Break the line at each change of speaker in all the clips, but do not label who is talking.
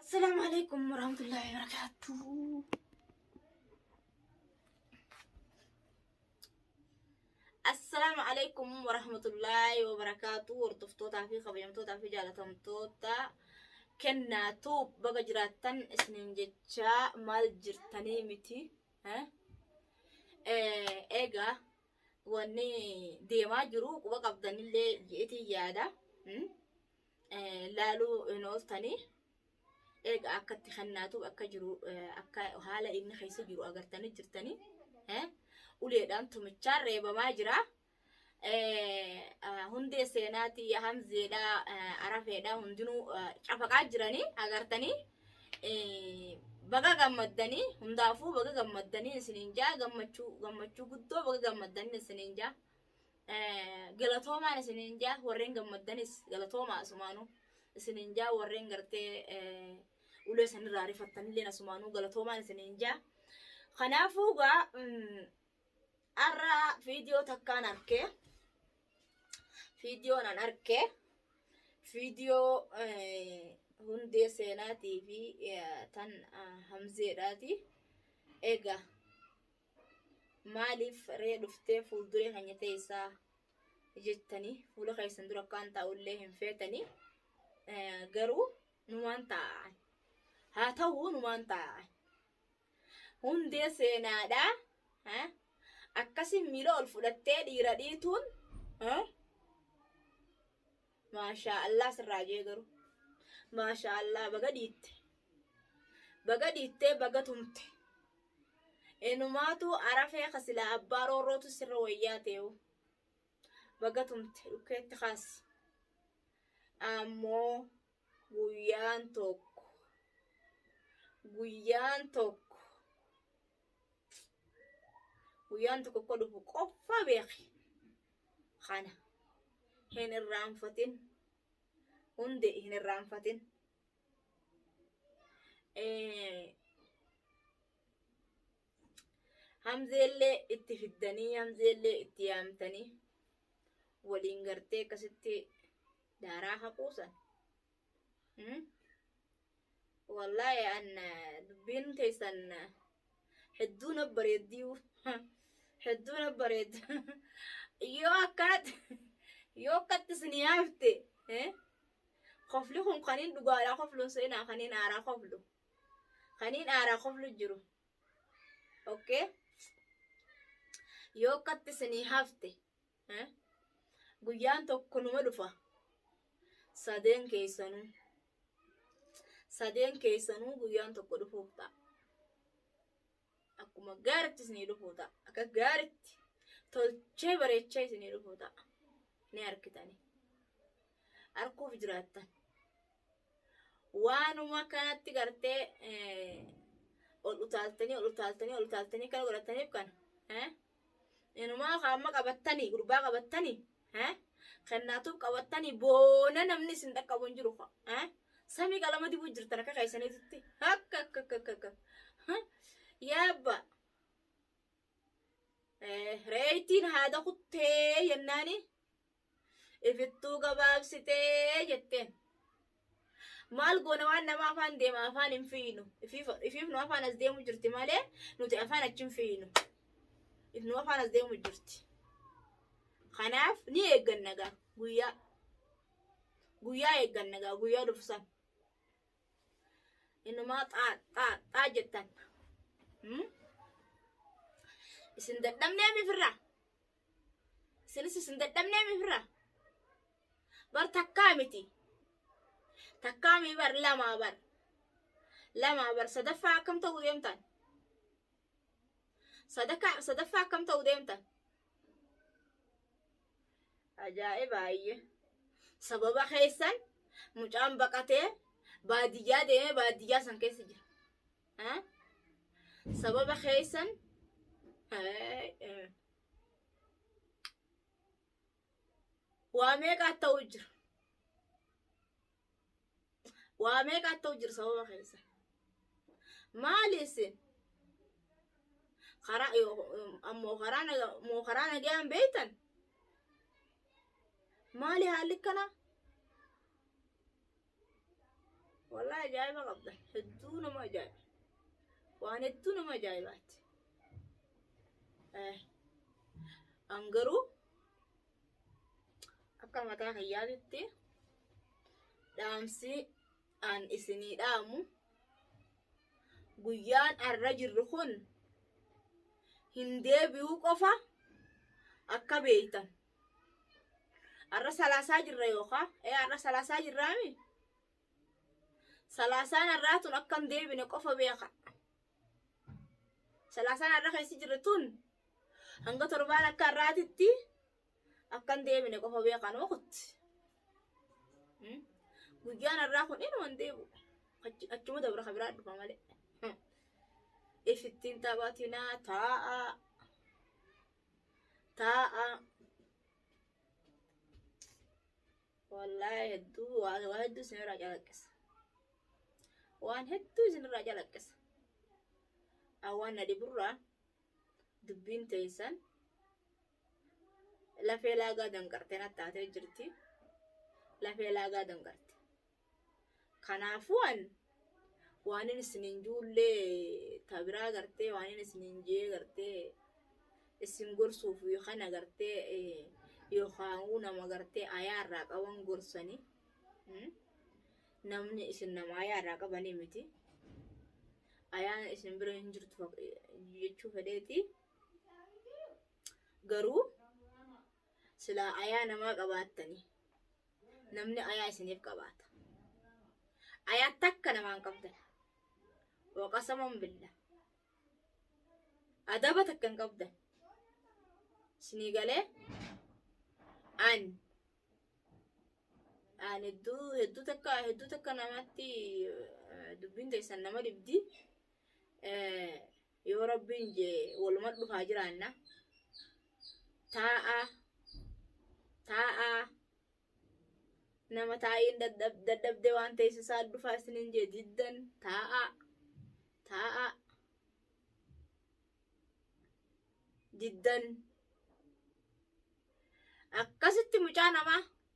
Assalaamu alaikum warahmatullahi wabarakatuh. Assalaamu alaikum warahmatullahi wabarakatuh. Hordoftootaa fi kabajamtootaa fi jaalatamtoota kennaa tuub baga jiraattan isiniin jechaa maal jirtanii miti. eh? Eh, Egaa wanni deemaa jiru quba qabdanillee jedheetiin yaada. Mm? laaluu hin ooltanii eega akka itti kennaatu akka jiru akka haala inni keessa jiru agartanii jirtanii uleedhaan tumichaan reebamaa jira. Hundee seenaati hamzeedha arafeedha hundinuu cafaqaa jiranii agartanii baga gammaddanii hundaafuu baga gammaddanii isiniin jaa gammachuu gammachuu guddoo baga gammaddanii isiniin jaa. galatoomaan isiniin jaa warreen gammaddanis galatoomaa asumaanuu isiniin jaa warreen gartee ulee isinirraa rifattanilleen asumaanuu galatoomaan isiniin jaa kanaafuu gaa arra viidiyoo takkaan arkee viidiyoon an arkee viidiyoo hundee seenaatii fi tan hamzeedhaati egaa maaliif ree dhuftee fuulduree keenya teessaa jettanii fuula keessan dura akkaan taa'ullee hin feetanii garuu numaan taa'an haa ta'uu numaan taa'an hundee seenaadhaa akkasiin miila ol fudhattee dhiira dhiituun Maashaa Allah sirraa jee garuu. Maashaa Allah baga dhiitte. Baga dhiittee baga tumte. Enumaatu arafee ka silaa abbaa roorrootu sirra wayyaa ta'eewu. Baga tumte dhukkeetti kaasi. Ammoo guyyaan tokko guyyaan tokko guyyaan tokko akka dhufu qofa beeki. kana hin irraanfatin hundi hin irraanfatin hamzeellee itti fiddanii hamzeellee itti yaamtanii waliin gartee akkasitti daaraa haquusan Hmm? Wallaahi an eh, dubbiin teessan eh, hedduu na bareeddiyuu. Hedduu na bareeddu. Yoo akkanatti yoo akkatti isin yaafte eh, kofli kun kaniin dhugaadhaa kofluun seenaa kaniin aaraa koflu. Kaniin aaraa koflu jiru. Okay? Yoo akkatti isin hafte. Eh? Guyyaan tokko numa dhufa. Sadeen keessanuu. Sadeen keessanuu guyyaan tokko dhufuuf ta'a. Akkuma gaaritti isinii dhufuu ta'a. Akka gaaritti tolchee bareechee isinii dhufuu ta'a. Ni harkitanii. Harkuuf jiraattan. Waanuma kanatti gartee eh, ol utaaltanii ol utaaltanii ol utaaltanii kana godhataniif kana. Eh? Inumaa kaamma qabattanii gurbaa qabattanii eh? kennaatuuf qabattanii boona namni isin dhaqqabu hin jiru ka eh? samii qalama dibuu jirtan akka keessaniititti akka akka akka akka akka Huh? yaabba Eh, reeytiin haada kuttee jennaani Ifittuu gabaabsitee jetteen. Maal goona waan nama afaan deema afaan hin fiinu. Ifiif nu afaan as deemu jirti malee nuti afaan achi hin fiinu. If nu afaan as deemu jirti. Kanaaf ni eegganna gaa guyyaa. Guyyaa eegganna gaa guyyaa dhufu san. Innumaa xaa xaa xaa jettan. Isin dadhabnee mifirraa. isinis isin dadhabnee mifirra bar takkaa miti takkaa mii bar lamaa bar lamaa bar sadaffaa akkam ta'uu deemtan sadaka sadaffaa akkam ta'uu deemtan ajaa'iba ayye sababa keessan mucaan baqatee baadiyyaa deemee baadiyyaa san keessa jira Eh? sababa keessan eh, eh. waa meeqaat ta'uu jira waa meeqaat ta'uu jira sababa keessa maali isin karaa ammoo karaa naga moo karaa nagayaan beeytan maali haalli kana Walaa ajaa'iba qabdan hedduu nama ajaa'iba waan hedduu nama ajaa'ibaatti an garuu akka mataa kiyyaatitti dhaamsi an isinii dhaamu guyyaan arra jirru kun hin deebi'uu qofa akka beeytan Arra salaasaa jirra yookaa? Ee arra salaasaa jirraami? Salaasaan arraa tun akka hin deebine qofa beeka. Salaasaan arra keessi jirre tun hanga torbaan akka arraatitti akka hin deebine qofa beeka noo kutti. Hmm? Guyyaan arraa kun inuma hin deebi'u. Achi- Achuma dabra ka biraa dhufa malee. Hmm. Ifittiin taphatinaa taa'aa. taa'a wallaahi hedduu waa waa hedduu isinirraa calaqqisa waan hedduu isinirraa calaqqisa an waan na dhiburraa dubbiin teessan lafee laagaa danqarte na taatee jirti lafee laagaa danqarte Kanaafuu an waanin isiniin juullee ta biraa gartee waanin isiniin jee gartee isin gorsuuf kana gartee yookaanuu nama gartee ayaa irraa qaban gorsani namni isin nama ayaa irraa qabanii miti ayaan isin bira hin jirtu jechuu fedheeti garuu silaa ayaa namaa qabaattanii namni ayaa isiniif qabaata ayaa takka namaan qabdan waqasaman billa adaba takka hin qabdan isinii galee an an hedduu hedduu takka hedduu takka namatti eh, dubbiin teessan nama dhibdi Eh, Yoo rabbiin jee waluman dhufaa jiraanna. Taa'aa. Taa'aa. Nama taa'iin dadhab- dadhabdee waan teessisaa dhufaa isiniin jee diddan taa'aa. Taa'aa. Diddan. Akkasitti mucaa namaa.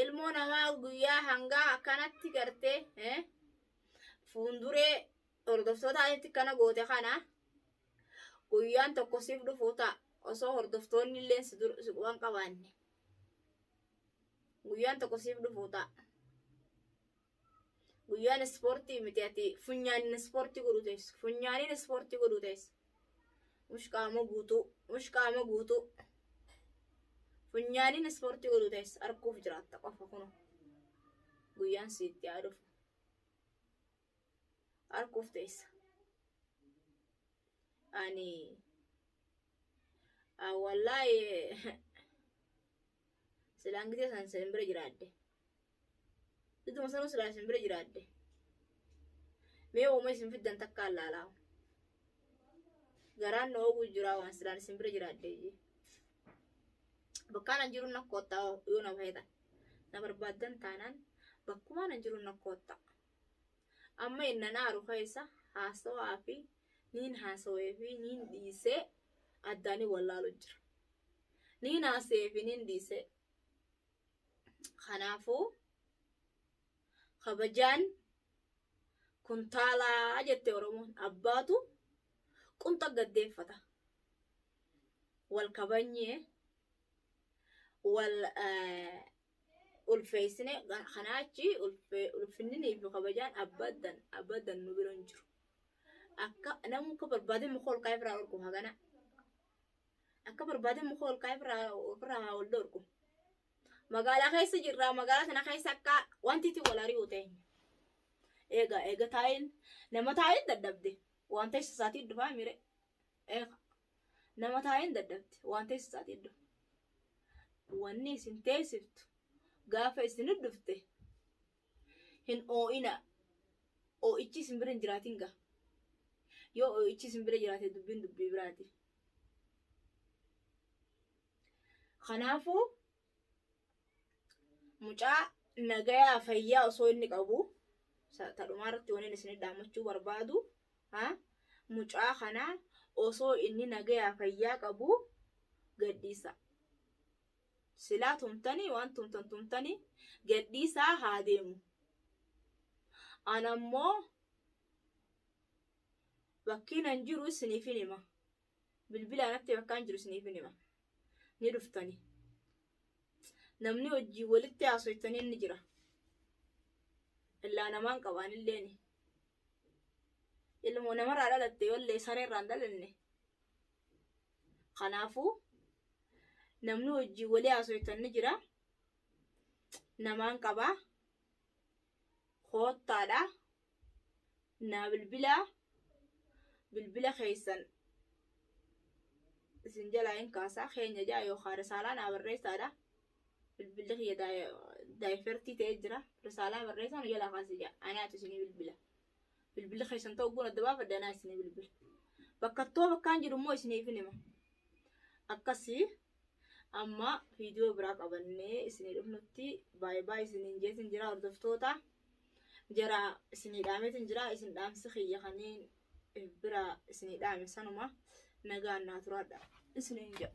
ilmoo namaa guyyaa hangaa akkanatti gartee eh, fuunduree hordoftoota asitti kana goote kana guyyaan tokko siif dhufu ta'a osoo hordoftoonni illee si dur- si quban qabaanne guyyaan tokko siif dhufu ta'a. Guyyaan ispoortii miti ati funyaanin ispoortii godhu teessu. Funyaaniin ispoortii godhu teessu. Mush qaama guutuu. Mush qaama guutuu. Funyaaniin ispoortii godhu teessu. Arguuf jiraatta qofa kunu. Guyyaan siitti haa dhufu. Arguuf teessa. Ani. Wallaahi. silaan gitee san sin bira jiraadde idduma sanuu silaa isin bira jiraadde mee ooma isin fiddan takkaan laalaa garaan na ooguu jiraa waan silaan isin bira jiraadde jee bakkaan an jiruun na koottaa yoo na bahetan na barbaaddan taanaan bakkumaan an jiruun na koottaa amma innan aaru keessa haasawaa fi niin haasawee fi niin dhiisee addaanii wallaalu jira Niin haasa'ee fi niin dhiise. Kanaafuu kabajaan kuntaalaa jette Oromoon abbaatu qunxa gaddeeffata. Wal kabanyee wal ulfeessine kanaa achi ulfinninii fi kabajaan abadan abadan nu bira hin jiru. Akka namuu akka barbaade muka ol kaa'ee biraa dhorku hagana. Akka barbaadan muka ol kaa'ee ofirraa ofirraa haa wal dhorku. Magaalaa keessa jirra. Magaalaa sana keessa akka wanti itti wal ari'u ta'e. Eega eega taa'een nama taa'een dadhabde waan teessu isaatii dhufaa mire. Eega nama taa'een dadhabde waan teessu isaatii dhufa. Wanni isin teessiftu gaafa isin dhufte Hin oo'inaa. Oo'ichi isin bira hin jiraatin gaa. Yoo oo'ichi isin bira jiraate dubbiin dubbii biraati. Kanaafuu mucaa nagayaa fayyaa osoo inni qabu sa- ta dhumaa irratti waniin isin dhaamachuu barbaadu ha? mucaa kana osoo inni nagayaa fayyaa qabu gadhiisa. Silaa tumtani waan tumtan tumtani gad dhiisaa haa deemu. An ammoo bakkiin an jiru isiniifin hima. Bilbilaan atti bakkaan jiru isiniifin hima. Ni dhuftani. Namni wajjin walitti haasoytanii inni jira. Illaa namaan qabaan illeeni. Ilmoo namarraa dhalatte wallee sareerraan dhalanne. Kanaafuu namni wajjin walii haasoytan ni jira. Namaan qabaa. Koottaadha. Naa bilbilaa. Bilbila keessan isin jalaa hin kaasaa. Keenya ja'a yookaan risaalaa naa barreessaadha. Bilbilli kiyya daayifertii ta'ee jira. Risaalaa barreessaa nu jalaa kaasa ja'a. Anaatu isinii bilbila. bilbilli keessan ta'uu kun adda baafadhe anaa isinii bilbila. Bakka too bakkaan jiru immoo isiniifin hima. Akkasii amma viidiyoo biraa qabannee isinii dhufnutti baay'ee baay'ee isiniin jeetin jira hordoftoota. Jara isinii dhaametin jira isin dhaamsi kiyya kaniin bira isinii dhaame sanuma nagaan naa turaadha isiniin jedha.